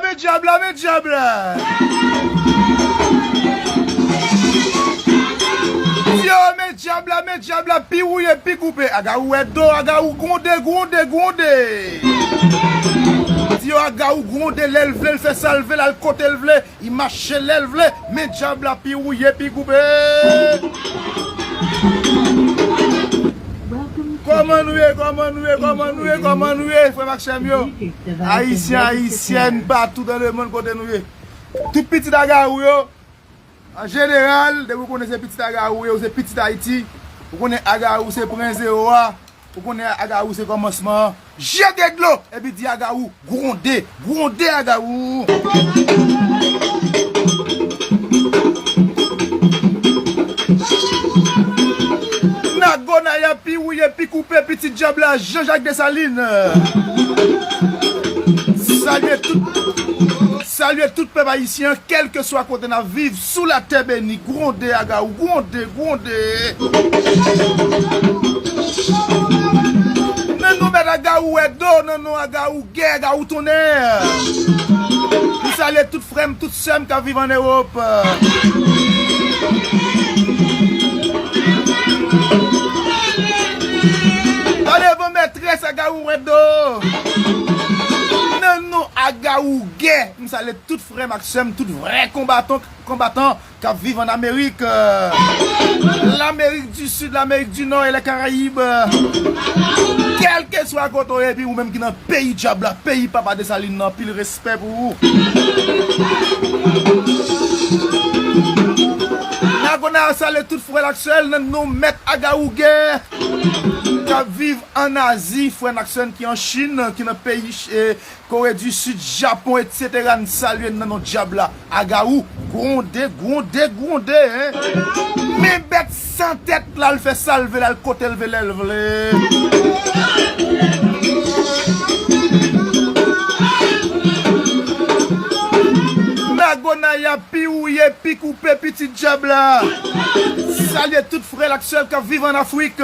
Men djab la men djab la. Yo men djab la men djab la pi wouye pi koupe agawou wè do agawou gwonde gwonde gwonde Di yo agawou gwonde lèl vlel fè sal vle lal kotel vle I mache lèl vle. Men djab la pi rouye pi goube. Koman nou ye koman nou ye koman nou ye koman nou ye frem ak sem yo ayisyen ayisyèn patou dan le mond kote nou ye tout pitit agarou yo an jeneral depi ou konnen se pitit agarou ou ye ou se pitit ayiti ou konnen agarou se pren zero a. Ou konnen Agawou se kòmansman an, jete dlo! Epi di Agawou, gwonde, gwonde Agawou! Nago Naya pi wouye, pi koupe pitit djab la, Jan Jak Desalin! Salye tout, salye tout pèp ayisyen an, kèlkeswa kote n ap viv. Sou la tè beni, gwonde Agaou, gwonde, gwonde! Nan non bèt Agaou wè do, nan non Agaou gè, Agaou tonnè! M salye tout frè m, tout sè m k ap viv an Ewop. Tande van mètrès Agaou wè do, nan non Agaou gè, m salye tout. Frèm ak sèm tout vrè konbatonk konbatan kap viv an amerik lamerik di sid lamerik di nò e lè karayib kèlke swa kote ou ye epi ou menm ki nan peyi djab la peyi papa desalin nan anpil respè pou ou nagona a salye tout frèl ak sèl nan non mèt agawouge kap viv an azi frèn ak sèn ki an chin ki nan peyi Kore du Sud, Japon etc n salye n nan non dyab la, Agawou, gwonde, gwonde, gwonde hein. Men bèt san tèt la l fè sal vle l al kotel vle lèl vle. Mago Naya pi wouye, pi koupe, pitit dyab la. Salye tout Frèl ak sèl kap viv an Afrik.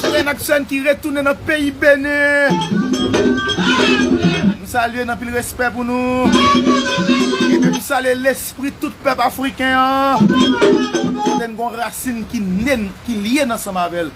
Frèn ak sèn ki retounen nan peyi Benin. M salye n anpil respè pou nou. Epi m salye lespri tout pèp afriken an. Kote n gon rasin ki lyen ansanm avèl.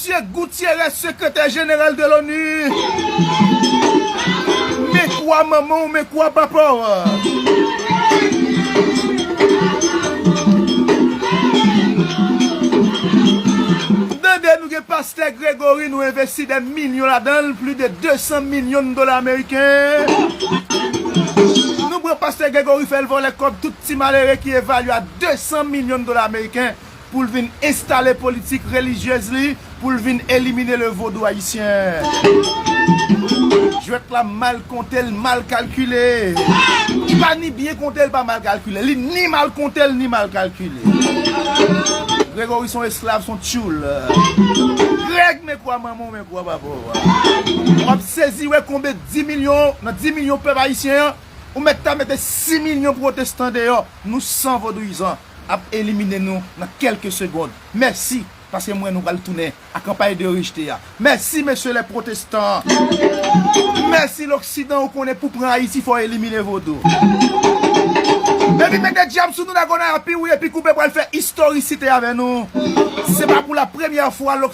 Che Gutierrez sekretè jeneral de l'ONU men kwa manman w men kwa papa w tande nou gen pastè Gregory nou envesti dè milyon ladan l pli de 200 milyon dola ameriken nou pran pastè Gregory fè l vòlè kòb tout ti malere ki evalye a 200 milyon dola ameriken Pou l vin enstale politik relijyez li, pou l vin elimine le vodou ayisyen. Jwèt la mal konte, l mal kalkile. Li pa ni byen konte, li pa mal kalkile. Li ni mal konte, li ni mal kalkile. Gregory son esklav, son tyoul. Greg men kwa manman w, men kwa papa w. W ap sezi wè konbe di milyon, nan di milyon pèp ayisyen an, ou mèt ta mete si milyon pwotestan deyò. Nou san vodouyizan. ap elimine nou nan kelke segond mèsi paske m wè nou pral tounen a kanpay de rejte a mèsi mesye lè protestan mèsi loksidan ou konnen pou pran ayiti fò elimine vodou epi mete djab sou nou dagonav pi wouye pi koupe pral fè istorisite avè nou se pa pou la premyè fwa.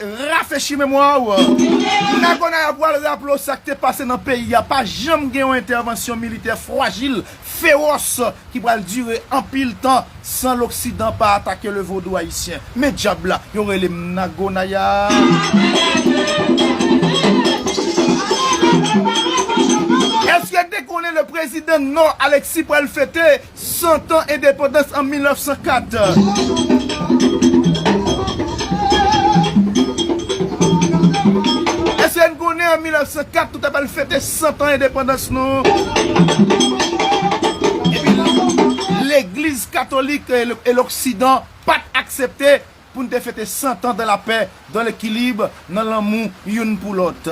Rafechi memwa w. Nago Naya pwal raple w sa k te pase nan peyi a. Pa janm gen yon entèvansyon militè fwajil, fewòs ki pral dire anpil tan san loksidan pa atake le vodou ayisyen. Men djab la, yo rele m Nago Naya. Èske te konnen le prezidan Nò Alexis pral fete Cent ans endepandans an 1904. Èske n konnen an 1904 nou ta pral fete cent ans endepandans nou? Epi legliz katolik e loksidan pat aksepte Pou n te fete santan dan lapè, dan lekilib, nan lanmou youn pou lòt.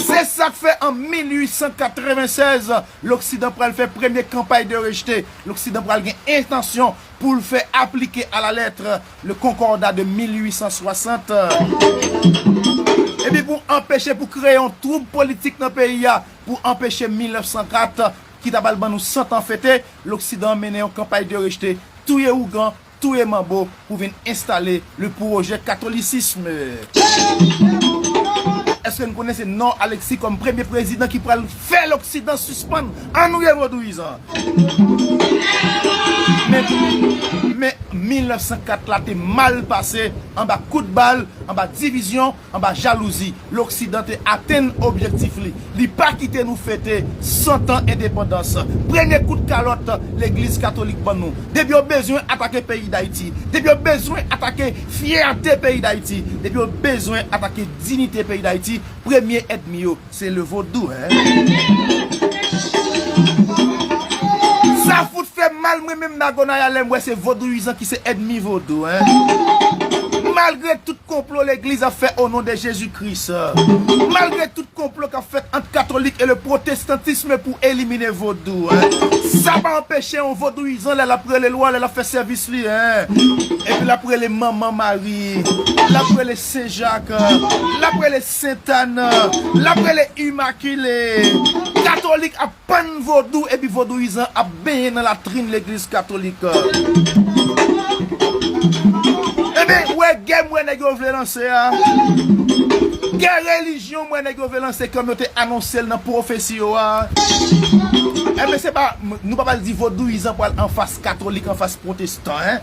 Se sa k fè an 1896, loksidan pral fè premye kanpay de rejete, loksidan pral gen entansyon pou l fè aplike a la lettre le Concordat de 1860. Epi pou anpeche, pou kreye yon twoub politik nan peyi a, pou anpeche 1904 ki ta pral ban nou santan fete, loksidan mennen yon kanpay de rejete, touye ougan, touye manbo pou vin enstale le pwojè katolisism. Eske n konnen se Nord Alexis kòm premye prezidan ki pral fè loksidan sispann annuye vodouyizan an? Men, me 1904 la te mal pase anba kout bal, anba divizyon. Anba jalouzi, loksidan te atenn objektif li. Li pa kite nou fete 100 tan endepandans. Premye kout kalòt legliz katolik ban nou. Depi yo bezwen atake peyi Dayiti, depi yo bezwen atake fyète peyi Dayiti, depi yo bezwen atake dinite peyi Dayiti, premye èdmi yo, Se le vodou hein. Sa fout fèm mal mwen menm Nagonaya lèm wè se vodouyizan ki se èdmi vodou hein. Malgre tout konplo legliz ap fè onon de Jezi Kris. Malgre tout konplo kap fèt ant katolik e le protestantisme pou elimine vodou hein. Sa pa anpeche yon vodouyizan lè lap rele lwa lè lap fè sèvis li hein. Epi lap rele manman Mari. Lap rele sen Jak. Lap rele. Sent Ann l ap rele Imakile. Katolik ap pann vodou epi vodouyizan ap benyen nan latrin legliz katolik. Enben, ou wè gè m wè nèg yo vle lanse a? Gè relijyon m wè nèg yo vle lanse kòm yo te anonse l nan pwofesi yo a? Enben, se pa, nou pa pral di vodouyizan pral anfas katolik, anfas pwote. tan hein.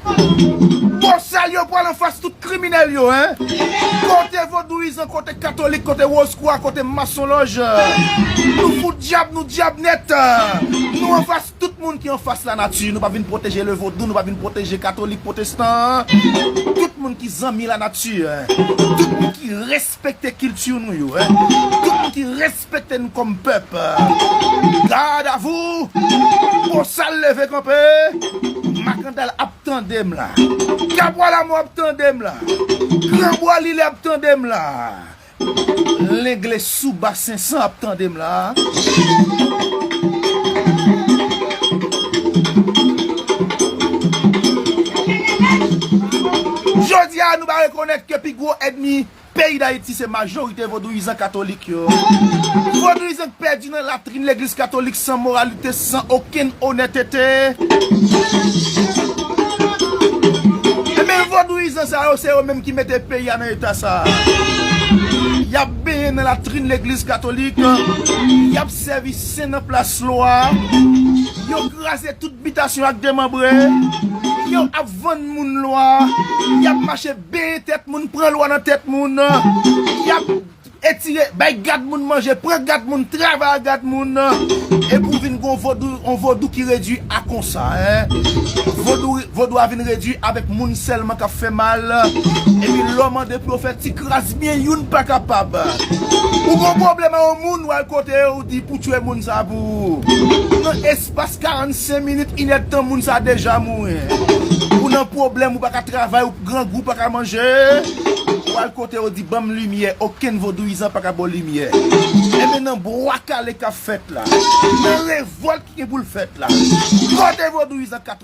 Bosal yo pwal anfas tout kriminel yo hein. Kote vodouyizan kote katolik kote wozkwa kote masonloj nou fout dyab nou dyab net nou anfas tout moun ki anfas la nati nou pa vin pwoteje le vodou nou pa vin pwoteje katolik pwotestan tout moun ki zanmi la nati tout moun ki respekte kilti nou yo tout moun ki respekte Respekte n kòm pèp. Gad a vou! Bosal leve kanpe! Makandal ap tande m la! Kabwa Lamò ap tande m la! Gran Bwa Lilè ap tande m la! Lengle sou Bas Sensan ap tande m la! Jodi a nou bare konèt ke pi gwo èdmi. Peyi Dayiti se majorite vodouyizan katolik yo. Vodouyizan k pèdi nan latrin legliz katolik san moralite, san okenn onètete. Enben vodouyizan sa yo se yo menm ki mete peyi a nan eta sa. Y ap benyen nan latrin legliz katolik, y ap sèvi sen nan plas lwa, yo kraze tout bitasyon ak demanbre, yo ap vann moun lwa, y ap mache. Benyen tèt moun, pran lwa nan tèt moun, yap etire, bay gad moun manje, pran gad moun, travay ak gad moun, epi ou vin gon vodou, on vodou ki redwi a konsa hein. Vodou, vodou a vin redwi avèk moun sèlman kap fè mal, epi lè w mande pou yo fè ti kras byen youn pa kapab. Ou gon pwoblèm a on moun wal kote ou di pou tchwe moun sa pou ou. Pas 45 minit inèdtan moun sa deja mouri ou nan pwoblèm ou paka travay ou grangou paka manje ou al kote ou di banm limyè okenn vodouyizan paka baw limyè enben nan bwa kale kap fèt la nan revòlt ki gen poul fèt la mòde vodouyizan 4.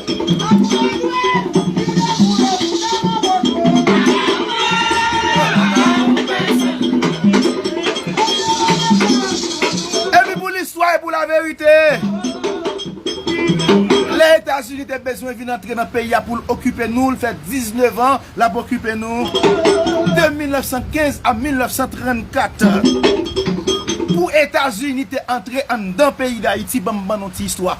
Epi pou listwa e pou laverite, lè Etazini te bezwen vin antre nan peyi a pou l okipe nou, l fè 19 an l ap okipe nou, de 1915 a 1934, pou Etazini te antre anndan peyi Dayiti, ban m ban nou ti istwa.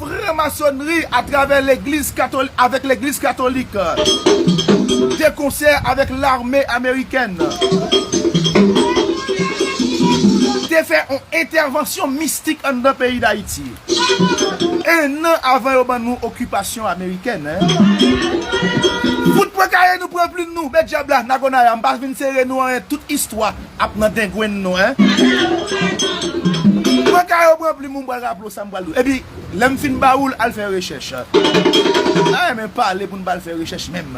Franmasonnri atravè legliz katolik avèk legliz katolik de konsè avèk lame amerikèn te fè on entèvansyon mistik anndan peyi dayiti ennan avan yo ban nou okipasyon amerikèn fout pran kaye nou pran plim nou met dyab la nagonaya m pa vin sere nou anyen tout istwa ap nan dengwenn nou hein. Pran kay ou pran plim ou m'pral raple ou sa m'pral di ou. Epi lèm fin ba oul al fè rechèch. M ta renmen pale pou nou bal fè rechèch menm.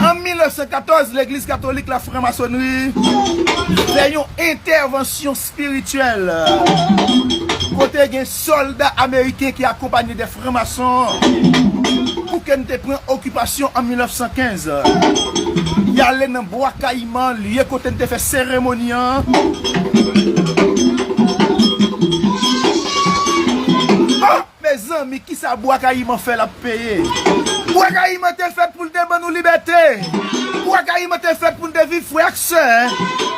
An 1914, Legliz Katolik la, Franmasonnri, fè yon entèvansyon spirityèl kote gen sòlda ameriken ki akonpanye de franmason pou ke n te pran okipasyon an 1915. Y ale nan Bwa Kayiman. Kman l ye kote n te fè seremoni an? Oh! Mezanmi kisa Bwa Kayiman fè l ap peye? Bwa Kayiman te fèt pou l te ban nou libète! Bwa Kayiman te fèt pou n te viv frè ak sè!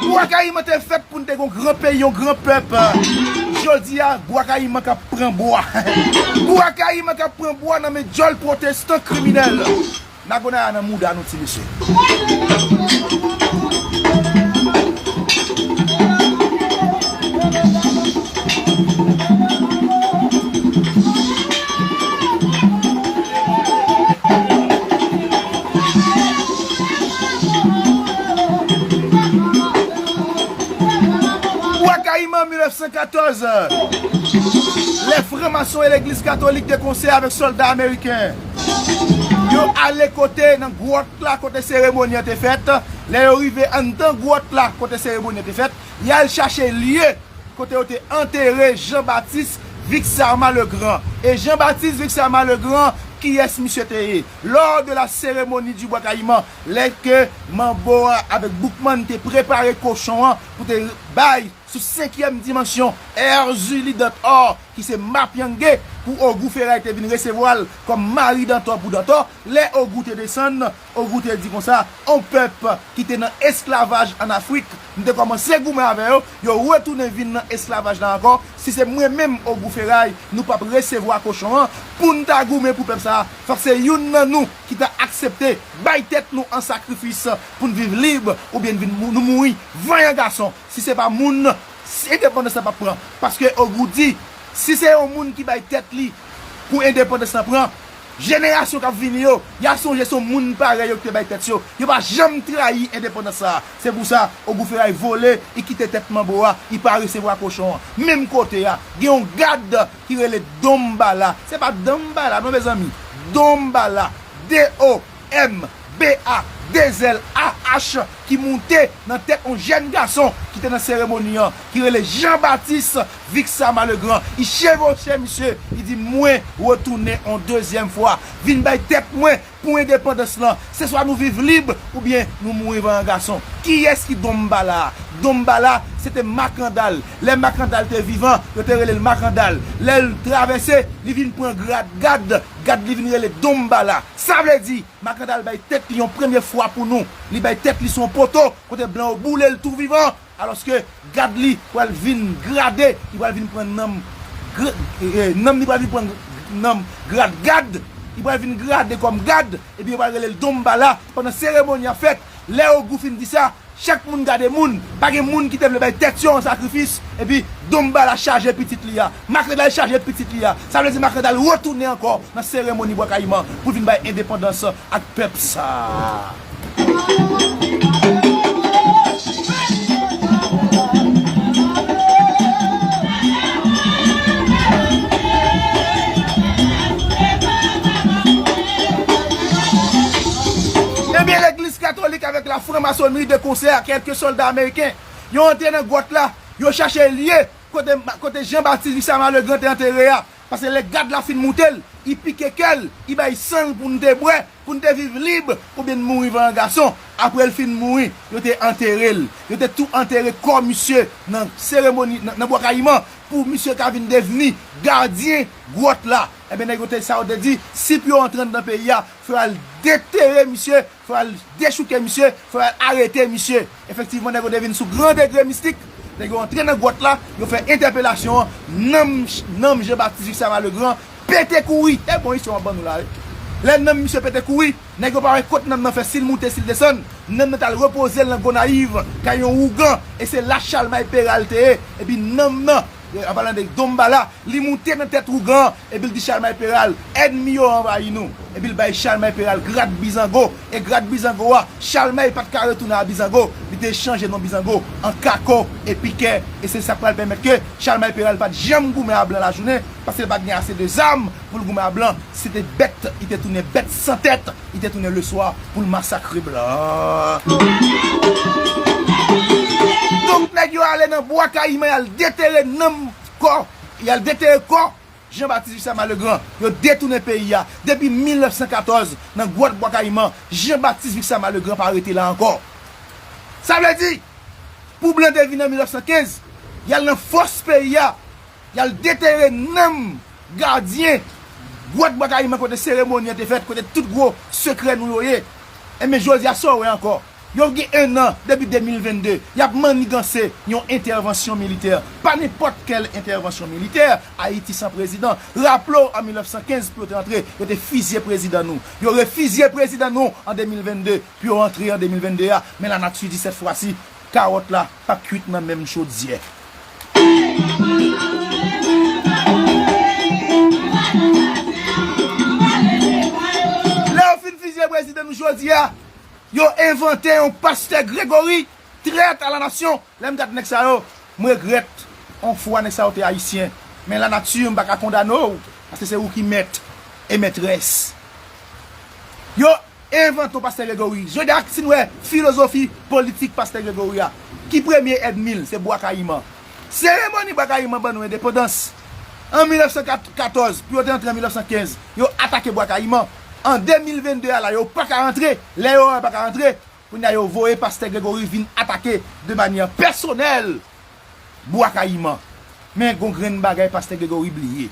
Bwa Kayiman te fèt pou n te gen yon gran peyi, yon gran pèp! Jodi a, Bwa Kayiman k ap pran bwa! Bwa Kayiman k ap pran bwa nan men djòl pwotestan kriminèl! Nagonaya nan mouda nou ti mesye. Bwa Kayiman 1914 Lè franmason e legliz katolik te konseye avèk sòlda ameriken. Yo ale kote nan gwòt la kote seremoni an te fèt. Lè yo rive anndan gwòt la kote seremoni an te fèt, y al chache lye kote yo te antere Jan Batis Vixarma le Grand. E Jan Batis Vixarma le Grand, kiyès misye te ye? Lò de la seremoni di Bwa Kayiman, lè ke Manbo a avèk Boukman te prepare kochon an pou te bay sou senkyèm dimansyon Èrzili Dantò, ki se Mapyangé pou Ogou Feray te vin resevwa l kòm mari Dantò pou Dantò. Lè Ogou te desann, Ogou te di konsa, On pèp ki te nan esklavaj ann Afrik, m te kòmanse goumen avè yo, yo retounen vin nan esklavaj la ankò, si se mwen menm Ogou Feray, nou p ap resevwa kochon an. Pou n ta goumen pou pèp sa a, fòk se youn nan nou ki ta aksepte bay tèt nou an sakrifis pou n viv lib oubyen n vin nou mouri vanyan gason, si se pa moun Si endepandans la pap pran paske ogou di si se yon moun ki bay tèt li pou endepandans la pran jenerasyon kap vini yo ya sonje son moun parèy yo ki te bay tèt yo yo pa janm trayi endepandans sa se pou sa ogou feray vole i kite tèt manbo a i pa resevwa kochon an menm kote a gen yon gad ki rele donmbala se pa danmbala non mezanmi donmbala DO. MBA Dezel AH ki moute nan tèt on jèn gason ki te nan seremoni an ki rele Jean Baptiste Vixama Legrand i chevoche misye i di mwen retounen on dezyèm fwa vin bay tèt mwen pou endepandans lan se swa nou viv lib oubyen nou mouri vanyan gason kiyès ki Don Mbala a Don Mbala se te Makandal lè Makandal te vivan yo te rele l Makandal lè l travèse li vin pran grad gad gad li vin rele Don Mbala. Sa vle di, Makanda al bay tèt li yon premye fwa pou nou, li bay tèt li sou yon poto kote blan yo boule l tou vivan, alòske gad li pral vin grade, li pral vin pran nanm nanm li pral vin pran nanm grad gad, li pral vin grade kòm gad, epi yo pral rele l Donmbala pandan seremoni ap fèt. Lè Ogou fin di sa, chak moun gade moun, pa gen moun ki te vle bay tèt yo an sakrifis, epi Donmbala chaje pitit li a. Makandal chaje pitit li a. Sa vle di Makandal retounen ankò nan seremoni Bwa Kayiman pou l vin bay endepandans ak pèp sa a. Ebyen legliz katolik avèk la franmasonri de konsè a kèlke sòlda ameriken yo antre nan gwòt la yo chache lye kote Jean Baptiste Vissama Legrand te antere a pase lè gad la fin moutel i pike kèl i bay sang poun te bwè Pou n te viv lib oubyen n mouri van an gason. Apre l fin mouri, yo te antere l. Yo te tou antere kò misye nan seremoni nan Bwa Kayiman pou misye ka vin devni gadyen gwòt la. Enben nèg yo te sa yo te di, si pou yo antre anndan peyi a, fò y al detere misye, fò y al dechouke misye, fò y al arete misye. Efektivman nèg yo te vin sou gran degre mistik, nèg yo antre nan gwòt la, yo fè entèpelasyon an, nanm nanm Jean Baptiste Juxama Legrand pete kouri, e bon istwa map ban nou la wi, lè nanm misye pete kouri, nèg yo pa wè kot nanm nan fè sil moute sil desann, nanm nan tal repozel nan Gonayiv kay yon ougan, e se la Chalmay Peral te ye, epi nanm nan. An palan de Donbala, li moute nan tèt ougan an epi l di Chalmay Peral, Ènmi yo anvayi nou. Epi l bay Chalmay Peral grad Bizango, e grad Bizango a, Chalmay pa t ka retounen a Bizango, li te chanje non Bizango an Kako e Pikè, e se sa k pral pèmèt ke Chalmay Peral pa t janm goumen a blan lajounen, paske l pa t gen ase de zam. Pou l goumen a blan, si te bèt, li te tounen bèt san tèt, li te tounen leswa pou l masakre blan. Donk nèg yo ale nan Bwa Kayiman y al detere nanm, kò, y al detere kò Jean Baptiste Jussaman Legrand. Yo detounen peyi a. Depi 1914, nan gwòt Bwa Kayiman, Jean Baptiste Jussaman Legrand pa rete la ankò. Sa vle di, pou blan te vini an 1915, y al nan fòs peyi a, Yal detere nanm gadyen gwòt bwa kayiman kote seremoni an te fèt kote tout gwo sekrè nou yo ye enben jodi a sa w wè ankò yo gen 1 an depi 2022 yap manniganse yon entèvansyon militè pa nenpòt kèl entèvansyon militè ayiti san prezidan raple w an 1915 pou yo te antre yo te fizye prezidan nou yo refizye prezidan nou an 2022 pou yo antre an 2022 a men lanati di sèt fwa si Kawòt la pap kwit nan menm chodyè. Lè yo fin fizye prezidan nou jodi a, yo envante yon pastè Gregory, trèt a la nasyon. Lè m gad nèg sa yo, m regrèt. On fwa nèg sa yo te ayisyen. Men la nati m pa ka kondane w, paske se ou ki mèt e mètrès yo. Envanton pastè Gregory jodha ak sin wè filozofi politik pastè Gregory a ki premye èdmil se bwa kayiman seremoni bwa kayiman ban nou endepandans an 1914 pou yo te antre an 1915 yo atake bwa kayiman an 2022 a la yo paka antre lè yo wè yo paka antre kounya yo voye pastè Gregory vin atake de manyè pèsonèl Bwa Kayiman. Men gon grenn bagay Pastè Gregory bliye.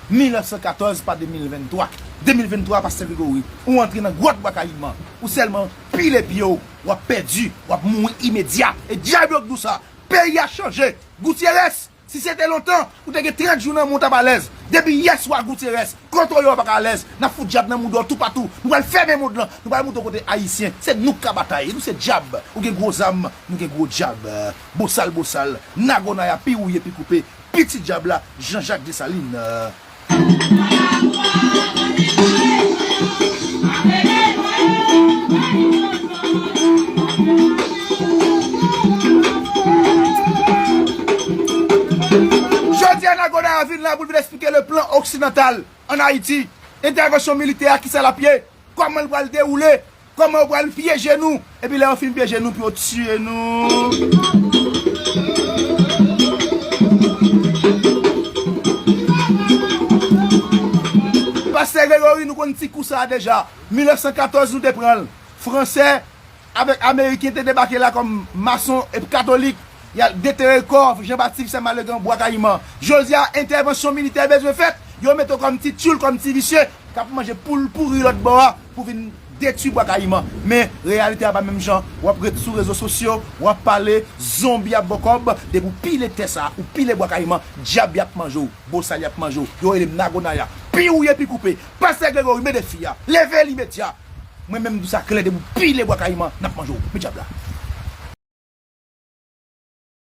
1914 pa 2023. 2023 Pastè Gregory, ou antre nan gwòt Bwa Kayiman. Ou sèlman pile pye w, w ap pèdi, w ap mouri imedya. E dyab yo k dou sa. Peyi a chanje. Goutyerès, si se te lontan, ou te gen 30 jou nan moun w t ap alèz. Depi yè swa Goutyerès, kontre yo pa ka alèz. N ap fout dyab nan mouda w toupatou. Nou pral fèmen mond lan. Nou pral montre w kote Ayisyen. Se nou k ka batay. E nou se dyab. Ou gen gwo zam. Nou gen gwo dyab. Bosal bosal, nago naya pi wouye pi koupe, piti dyab la, Jean Jacques Dessalines. Jodi a nago naya vin la pou l vin esplike le plan oksidantal an Ayiti, entèvansyon militè a kisa l ap ye? Kòman l pral dewoule? Kòman yo pral pyeje nou? Epi lè yo fin pyeje nou pou yo tiye nou? Pastè Gregory nou konn ti kou sa a deja. 1914 nou te pran l. Fransè Avèk ameriken te debake la kòm mason ep katolik yal detere kò Jean Baptiste Sè Malegan Bwa Kayiman. Jodi a entèvansyon militè bezwen fèt, yo mete w kòm ti tyoul, kòm ti visye kap manje poul pouri lòt bò a pou vin detwi Bwa Kayiman. Men reyalite a pa menm jan, wap ret sou rezo sosyo, wap pale, zonbi ap ba w kòb, depi w pile tè sa, ou pile Bwa Kayiman, dyab yap manje w, bosal yap manje w, yo rele m Nago Naya. Pi wouye pi koupe. Pastè Gregory mede fi a. Leve l imedya. Mwen menm mdi sa klè depi w pile bwa kayiman nap manje w. Men dyab la.